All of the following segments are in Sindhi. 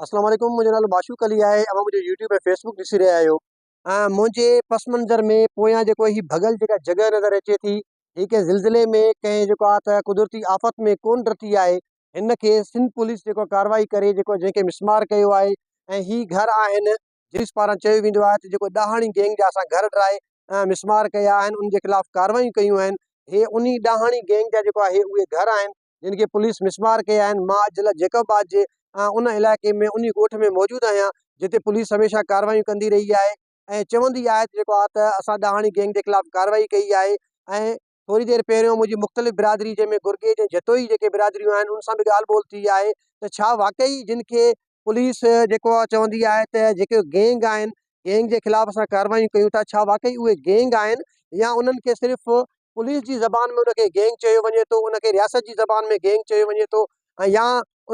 السلام عليڪم منهنجو نالو معشوق علي آهي اوهان منهنجو يوٽيوب ۽ فيسبوڪ ڏسي رهيا آهيو منهنجي پس منظر ۾ پويان جيڪو هي ڀڳل جيڪا جڳهه نظر اچي ٿي هي ڪنهن زلزلي ۾ ڪنهن جيڪو آهي ته قدرتي آفت ۾ ڪون ڊتي آهي هن کي سنڌ پوليس جيڪو ڪاروائي ڪري جيڪو جنهن کي مسمار ڪيو آهي ۽ هي گهر آهن جيس پاران چيو ويندو آهي ته جيڪو ڏاهاڻي گينگ جا اسان گهر ڊرائي مسمار ڪيا آهن ان جي خلاف ڪاروائيون ڪيون آهن هي انهي ڏاهاڻي گينگ جا جيڪو آهي اهي گهر آهن جن کي پوليس مسمار ڪيا آهن، مان اڄ ضلع جيڪب آباد جي ان علائقي ۾ انهي ڳوٺ ۾ موجود آهيان جتي پوليس هميشه ڪارروايون ڪندي رهي آهي ۽ چوندي آهي جيڪو آ ته اسان ڏاهاڻي گينگ جي خلاف ڪارروائي ڪئي آهي ۽ ٿوري دير پهريون منهنجي مختلف برادري جنهن ۾ گرگيج ۽ جتوئي جيڪي برادريون آهن ان سان به ڳالهه ٻولهه ٿي آهي ته ڇا واقعي جن کي پوليس جيڪو آهي چوندي آهي ته جيڪي گينگ آهن گينگ جي خلاف اسان ڪاروايون ڪيون ٿا ڇا واقعي اهي گينگ آهن يا انهن کي صرف پوليس جي زبان ۾ ان کي گينگ چيو وڃي ٿو ان کي رياست جي زبان ۾ گينگ چيو وڃي ٿو ۽ يا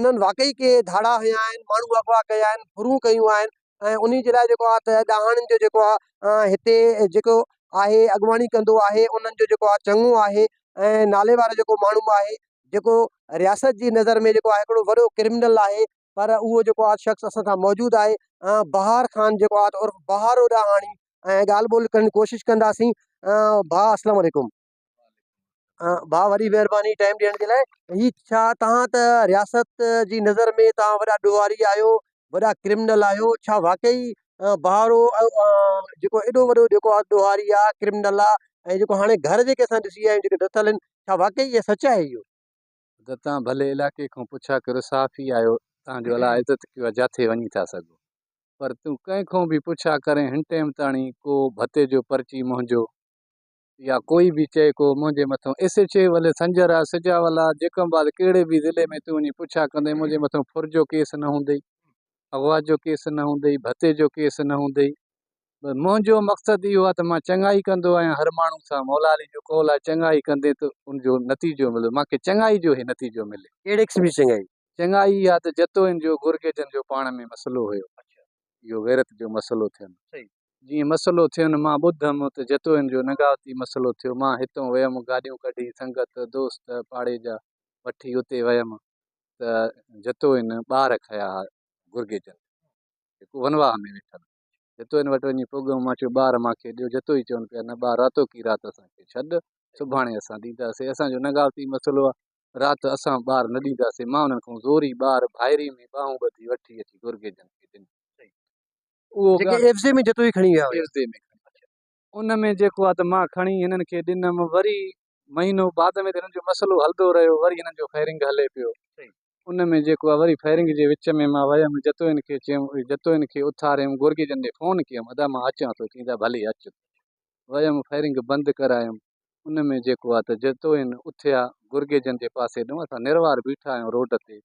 انهن واقعي ڪي ڌاڙا هنيا آهن ماڻهو اغوا ڪيا آهن ڦرون ڪيون آهن ۽ انهي جي لاء جيڪو آهي ته ڏاهاڻن جو جيڪو آهي هتي جيڪو آهي اڳواڻي ڪندو آهي انهن جو جيڪو آهي چڱو آهي ۽ نالي وارو جيڪو ماڻهو آهي جيڪو رياست جي نظر ۾ جيڪو آهي هڪڙو وڏو ڪرمنل آهي پر اهو جيڪو آهي شخص اسان سان موجود آهي ۽ بهار خان جيڪو آهي عرف بهار اڏاهاڻي ۽ ڳالهه ٻولهه ڪرڻ جي ڪوشش ڪنداسين ڀاء اسلام عليڪم ڀاء وڏي مهرباني ٽائم ڏيڻ جي لاء هي ڇا تهان ته رياست جي نظر ۾ تهان وڏا ڏوهاري آهيو وڏا ڪرمنل آهيو ڇا واقعي بهارو جيڪو ايڏو وڏو جيڪو آهي ڏوهاري آهي ڪرمنل آهي ۽ جيڪو هاڻي گهر جيڪي اسان ڏسي آيا آهيون جيڪي ڊٿل آهن ڇا واقعي اهي سچ آهي اهو. اگر توهان ڀلي علائقي کان پڇا ڪريو صحافي آهيو توهان جو الا عزت ڪيو آهي جاٿي وڃي ٿا سگهو پر تون ڪنهن کان به پڇا ڪرين هن ٽيم تاڻي ڪو ڀتي جو پرچي منهنجو يا ڪوئي به چئي ڪو منهنجي مٿو S H A Wali Sanjar آ سجاول آ جيڪم باد ڪهڙي به ضلعي ۾ تون وڃي پڇا ڪندي منهنجي مٿو ڦر جو ڪيس نه هوندئي اغوا جو ڪيس نه هوندئي ڀتي جو ڪيس نه هوندئي منهنجو مقصد اهو آهي ته مان چڱائي ڪندو آهيان هر ماڻهو سان مولا علي جو قول آهي چڱائي ڪندي ته ان جو نتيجو مليو مان کي چڱائي جو هي نتيجو ملي. ڪهڙي قسم جي چڱائي؟ چڱائي اها ته جتوئين جو گرگيجن جو پاڻ ۾ مسئلو هيو اهو غيرت جو مسئلو ٿين جيئن مسئلو ٿين مان ٻڌم ته جتوئين جو نگاوتي مسئلو ٿيو مان هتئون ويم گاڏيون ڪڍي سنگت دوست پاڙي جا وٺي اتي ويم ته جتوئين ٻار کنيا ها گرگيجن جيڪو ونواهه ۾ ويٺل هو جتو هن وٽ وڃي پڳ مان چيو ٻار مان کي ڏيو جتو ئي چون پيا نه ٻار راتو ڪي رات اسان کي ڇڏ سڀاڻي اسان ڏينداسي اسان جو نگاوتي مسئلو آ رات اسان ٻار نه ڏينداسي مان انهن کان زوري ٻار ڀائري ۾ ٻانهون ٻڌي وٺي اچي گرگي جن کي ڏنو اهو جيڪي ڳالهه ايفزي ۾ جتوئي کڻي ويا هيا ايفزي ۾ ان ۾ جيڪو آ ته مان کڻي هنن کي ڏنم وري مهينو بعد ۾ ته هنن جو مسئلو هلندو رهيو وري هنن جو فائرنگ هلي پيو ان ۾ جيڪو آهي وري فائرنگ جي وچ ۾ مان ويم جتوئين کي چيم جتوئين کي اٿاريم گورگي جن ڏي فون ڪيم ادا مان اچان ٿو چيائين ڀلي اچ ويم فائرنگ بند ڪرايم ان ۾ جيڪو آهي ته جتوئين اٿيا گورگي جن جي پاسي ڏنو اسان نروار بيٺا آهيون روڊ تي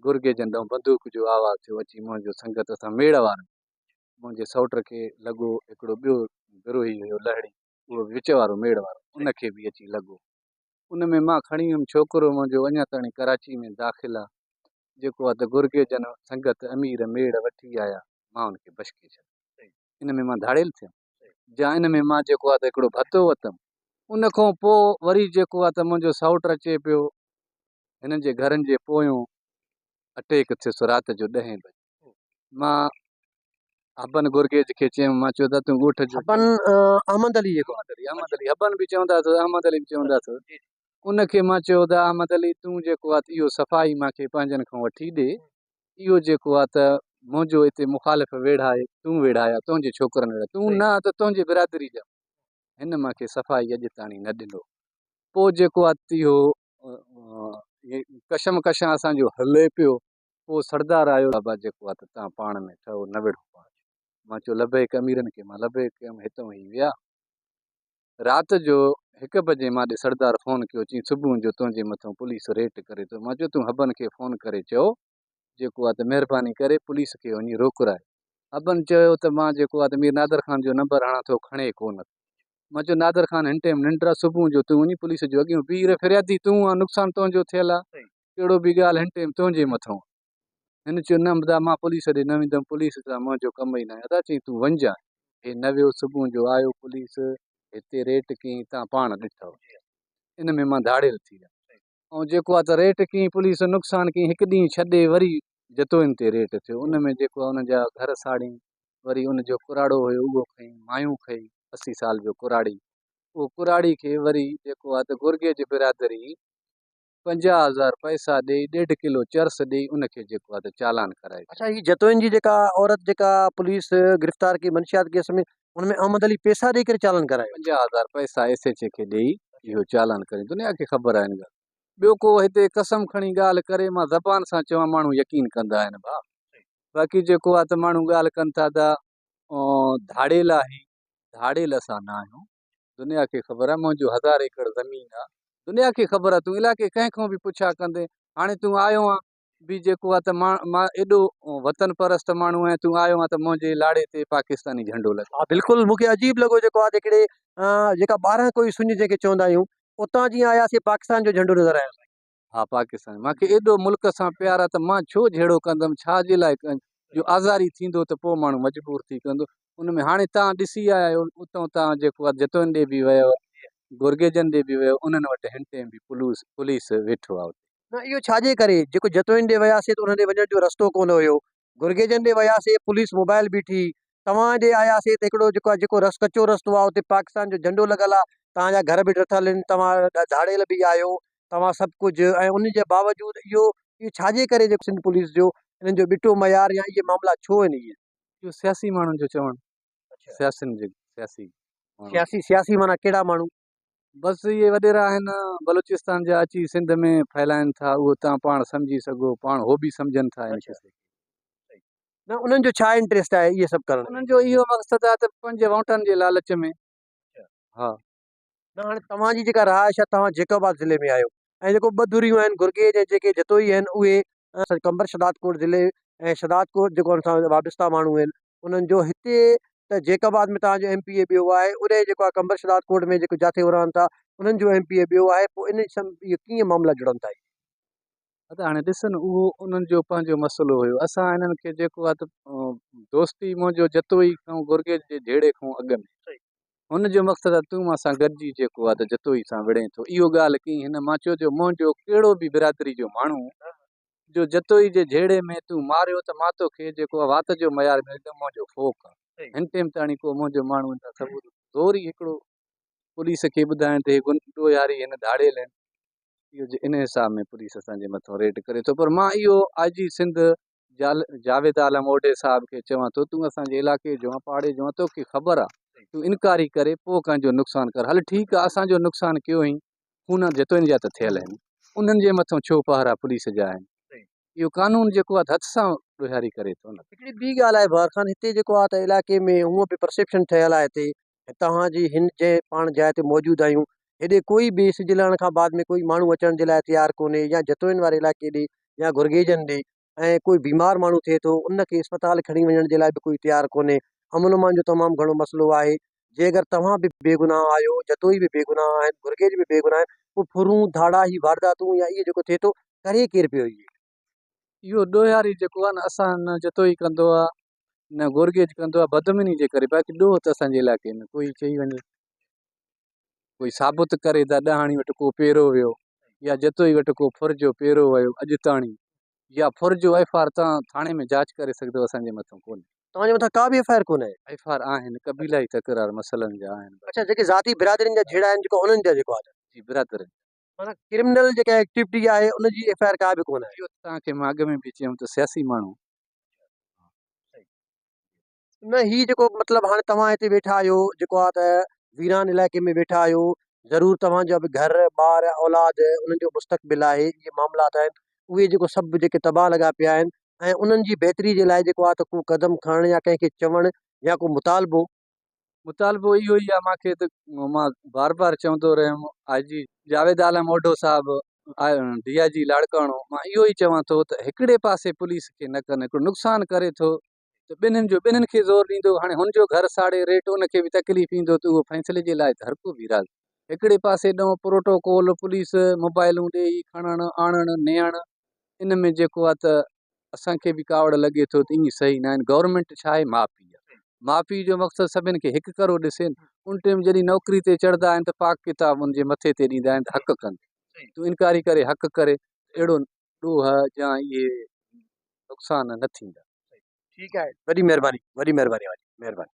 گورگي جن ڏنو بندوق جو آواز ٿيو اچي منهنجو سنگت اسان ميڙ وارو منهنجي سوٽ کي لڳو هڪڙو ٻيو بروهي هيو لهڙي اهو به وچ وارو ميڙ وارو ان کي به اچي لڳو ان ۾ مان کڻي ويم ڇوڪرو منهنجو اڃا تائڻي ڪراچي ۾ داخل آ جيڪو آ ته گرگي جن سنگت امير ميڙ وٺي آيا مان ان کي بشڪي ڇڏيم ان ۾ مان ڌاڙيل ٿيم جا ان ۾ مان جيڪو آ ته هڪڙو ڀتو وتم ان کان پو وري جيڪو آ ته منهنجو سائوٽ اچي پيو هنن جي گهرن جي پويون اٽيڪ ٿيس رات جو ڏهين بجي مان هبن گرگيج کي چيم، مان چيو ته تون ڳوٺ جو. هبن احمد علي جيڪو. احمد علي، احمد علي، هبن به چوندا اٿس، احمد علي به چوندا اٿس. ان کي مان چيو ته احمد علي تون جيڪو آت اهو صفائي مان کي پنهنجن کان وٺي ڏي. اهو جيڪو آ ته منهنجو اتي مخالف ويڙها هي، تون ويڙها يا تنهنجي ڇوڪرن ويڙها. تون نه آ ته تنهنجي برادري جا. هن مان کي صفائي اڄ تاڻي نه ڏنو. پوء جيڪو آ تيهو ڪشمڪشان اسان جو هلي پيو. پوء سردار آيو بابا جيڪو آ ته توهان پاڻ ۾ ٺهو نه وڙهو پاڇ. مان چيو لبيڪ اميرن کي مان لبيڪ ڪيم هتئون هي ويا. رات جو هڪ بجي مان ڏي سردار فون ڪيو چين صبحون جو تنهنجي مٿئون پوليس ريٽ ڪري ٿو مان چيو تون حبن کي فون ڪري چئو جيڪو آ ته مهرباني ڪري پوليس کي وڃي روڪرائي حبن چيو ته مان جيڪو آ ته مير نادر خان جو نمبر هڻان ٿو کڻي ڪو نه ٿو مان چيو نادر خان هن ٽيم ننڊ آ صبحون جو تون وڃي پوليس جو اڳيون بيهي رهه فريادي تون آ نقصان تنهنجو ٿيل آ ڪهڙو به ڳالهه هن ٽيم تنهنجي مٿئون آ. هن چيو، نه ادا مان پوليس ڏي نه ويندم، پوليس سان منهنجو ڪم ئي ناهي. ادا چيائين، تون وڃ جانء. هي نه ويو، صبح جو آيو پوليس، هتي ريٽ ڪيائين، تان پاڻ ڏٺئو. ان ۾ مان ڌاڙيل ٿي ويم. ائون جيڪو آ ته ريٽ ڪيائين پوليس، نقصان ڪيائين، هڪ ڏينهن ڇڏي وري جتوئين تي ريٽ ٿيو، ان ۾ جيڪو آ ان جا گهر ساڙيائين، وري ان جو ڪراڙو هيو اهو کئين، مايون کئي، اسي سال جو ڪراڙي، اهو ڪراڙي کي وري جيڪو آ ته گورگيج برادري پنجاهه هزار پئسا ڏيئي ڏيڍ ڪلو چرس ڏيئي ان کي جيڪو آهي چالان ڪرائي ڇڏيو. اڇا هي جتوئين جي جيڪا عورت جيڪا پوليس گرفتار ڪئي منشيات ڪيس ۾ ان ۾ احمد علي پئسا ڏيئي ڪري چالان ڪرايو. پنجاهه هزار پئسا ايس ايڇ اي کي ڏيئي اهو چالان ڪريو دنيا کي خبر آهي ان ڳالهه ٻيو ڪو هتي قسم کڻي ڳالهه ڪري مان زبان سان چوان ماڻهو يقين ڪندا آهن ڀاء باقي جيڪو آهي ته ماڻهو ڳالهه ڪن ٿا ته ڌاڙيل آهي ڌاڙيل اسان نه آهيون دنيا کي خبر آهي منهنجو هزار ايڪڙ زمين آ دنيا کي خبر آ تون علائقي ڪنهن کان به پڇا ڪندي هاڻي تون آيو آ بي جيڪو آ ته مان مان ايڏو وطن پرست ماڻهو آهيان تون آيو آ ته منهنجي لاڙي تي پاڪستاني جهنڊو لڳ ها بلڪل مون کي عجيب لڳو جيڪو آ جيڪڙي جيڪا ٻارهن ڪوئي سڃ جنهن کي چوندا آهيون اتان جيئن آياسي پاڪستان جو جهنڊو نظر آيو سائين ها پاڪستان مان کي ايڏو ملڪ سان پيار آ ته مان ڇو جهيڙو ڪندم ڇا جي لاء ڪن جو آزاري ٿيندو ته پو ماڻهو مجبور ٿي ڪندو ان ۾ هاڻي تان ڏسي آيا آهيو اتون تان جيڪو آ جتوئن ڏي به ويو گورگيجن ڏي به ويو انهن وٽ هن ٽيم به پولوس پوليس ويٺو آ اتي نه اهو ڇا جي ڪري جيڪو جتوئن ڏي وياسي ته انهن ڏي وڃڻ جو رستو ڪونه هيو گرگيجن ڏي وياسي پوليس موبائل بيٺي توهان ڏي آياسي ته هڪڙو جيڪو آ جيڪو رس ڪچو رستو آ اتي پاڪستان جو جهنڊو لڳل آ توهان جا گهر به ڊٿل ان توهان ڌاڙيل به آهيو توهان سڀ ڪجهه ۽ ان جي باوجود اهو اهو ڇا جي ڪري جيڪو سنڌ پوليس جو انهن جو ٻٽو معيار يا اهي معاملا ڇو آهن اهي. اهو سياسي ماڻهن جو چوڻ سياسين جي سياسي ماڻهن. سياسي سياسي معنيٰ ڪهڙا ماڻهو. بس اهي وڏيرا آهن بلوچستان جا اچي سنڌ ۾ ڦهلائن ٿا اهو تان پاڻ سمجهي سگهو پاڻ هو به سمجهن ٿا ان قصي کي. نه انهن جو ڇا انٽريسٽ آهي اهي سڀ ڪرڻ ۾. انهن جو اهو مقصد آهي ته پنهنجي وونٽن جي لالچ ۾ ها. نه هاڻي توهان جي جيڪا رهائش آهي توهان جيڪوباد ضلعي ۾ آهيو ۽ جيڪو ٻه ڌريون آهن گرگي جي جيڪي جتوئي آهن اهي قمبر شھدادڪوٽ ضلعي ۽ شھدادڪوٽ جيڪو ان سان وابسته ماڻھو آهن انهن جو هتي ته جيڪب آباد ۾ توهان جو ايم پي اي ٻيو آهي اڏهي جيڪو آهي قمبر شھدادڪوٽ ۾ جيڪو جاٿي هو رهن ٿا انهن جو ايم پي اي ٻيو آهي پوء ان سان اهي ڪيئن معاملا جڙن ٿا اهي. ادا هاڻي ڏس نه اهو انهن جو پنهنجو مسئلو هيو اسان انهن کي جيڪو آهي ته دوستي منهنجو جتوئي کان گرگي جي جهيڙي کان اڳ ۾ هن جو مقصد آهي تون مان سان گڏجي جيڪو آهي ته جتوئي سان وڙهين ٿو. اهو ڳالهه ڪئين هن. مان چيو جو منهنجو ڪهڙو به برادري جو ماڻهو جو جتوئي جي جهيڙي ۾ تون ماريو ته مان توکي جيڪو آهي وات جو ميار ملندو منهنجو فوڪ آهي. هن ٽيم تاڻي ڪو منهنجو ماڻهو ان جا ثبوت زوري هڪڙو پوليس کي ٻڌائين ته هي ڏوهياري هن ڌاڙيل آهن. اهو جي ان حساب ۾ پوليس اسان جي مٿان ريڊ ڪري ٿو پر مان اهو آء جي سنڌ جاويد عالم اوڍي صاحب کي چوان ٿو تون اسان جي علاقي جو آن پاڙي جو آن توکي خبر آ تون انڪاري ڪري پوء ڪنهن جو نقصان ڪر هل ٺيڪ آ اسان جو نقصان ڪيو هئين خون جتوئين جا ته ٿيل آهن انهن جي مٿو ڇو پهرا پوليس جا آهن اهو قانون جيڪو آ ته هٿ سان ڏوهياري ڪري ٿو هڪڙي ٻي ڳالهه آهي بهار خان هتي جيڪو آ ته علائقي ۾ هونء به پرسيپشن ٺهيل آ هتي توهان جي هن جنهن پاڻ جاء تي موجود آهيون، هيڏي ڪوئي به سج لهڻ کان بعد ۾ ڪوئي ماڻهو اچڻ جي لاء تيار ڪونهي يا جتوئين واري علائقي ڏي يا گرگيجن ڏي ۽ ڪوئي بيمار ماڻهو ٿئي ٿو ان کي اسپتال کڻي وڃڻ جي لاء به ڪوئي تيار ڪونهي. امن امان جو تمام گهڻو مسئلو آهي. جي اگر توهان به بيگناهه آهيو، جتوئي به بيگناهه آهن، گرگيج به بيگناهه آهن، پوء ڦرون، ڌاڙا، هي وارداتون يا اهي جيڪو ٿئي ٿو، ڪري ڪير پيو اهي؟ اهو ڏوهياري جيڪو آهي نه اسان نه جتوئي ڪندو آهي نه گور گيچ ڪندو آهي بدامني جي ڪري باقي ڏوهه ته اسانجي علائقي ۾ ڪوئي چئي وڃي ڪوئي ثابت ڪري ته ڏاهاڻي وٽ ڪو پيرو ويو يا جتوئي وٽ ڪو ڦر جو پيرو ويو اڄ تاڻي يا ڦر جو ايف آر تان ٿاڻي ۾ جاچ ڪري سگهدو اسانجي مٿان ڪونهي توهانجي مٿان ڪا به ايف آر ڪونهي ايف آر آهن قبيلائي تڪرار مسئلن جا آهن اڇا جيڪي ذاتي برادرين جا جهيڙا آهن جيڪو انهن جا جيڪو آهي جي برادرين معنيٰ ڪرمنل جيڪا ايڪٽيوٽي آهي ان جي ايف آء آر ڪا به ڪونه آهي. اهو ته توهان کي مان اڳ ۾ به چيم ته سياسي ماڻهو. نه هي جيڪو مطلب هاڻي توهان هتي ويٺا آهيو جيڪو آهي ته ويران علائقي ۾ ويٺا آهيو ضرور توهان جا به گهر ٻار اولاد انهن جو مستقبل آهي اهي معاملات آهن اهي جيڪو سڀ جيڪي تباهه لڳا پيا آهن ۽ انهن جي بهتري جي لاء جيڪو آهي ته ڪو قدم کڻڻ يا ڪنهن کي چوڻ يا ڪو مطالبو مطالبو اهو ئي آهي مان کي ته مان بار بار چوندو رهيم آء جي جاويد عالم موڍو صاحب ڊي آء جي لاڙڪاڻو مان اهو ئي چوان ٿو ته هڪڙي پاسي پوليس کي نه ڪن هڪڙو نقصان ڪري ٿو ته ٻنهن جو ٻنهن کي زور ڏيندو هاڻي هن جو گهر ساڙي ريٽ ان کي به تڪليف ايندو ته اهو فيصلي جي لاء ته هر ڪو به راضي هڪڙي پاسي ڏنو پروٽوڪول پوليس موبائلون ڏيئي کڻڻ آڻڻ نيڻ ان ۾ جيڪو آهي ته اسان کي به ڪاوڙ لڳي ٿو ته ائين صحيح ناهن گورنمينٽ ڇا آهي ماء پيء آهي ماء پيء جو مقصد سڀني کي هڪ ڪرو ڏسي نه ان ٽيم جڏهن نوڪري تي چڙهندا آهن ته پاڪ ڪتاب ان جي مٿي تي ڏيندا آهن ته حق ڪن تون انڪاري ڪري حق ڪري اهڙو ڏوهه يا اهي نقصان نه ٿيندا ٺيڪ آهي وڏي مهرباني وڏي مهرباني مهرباني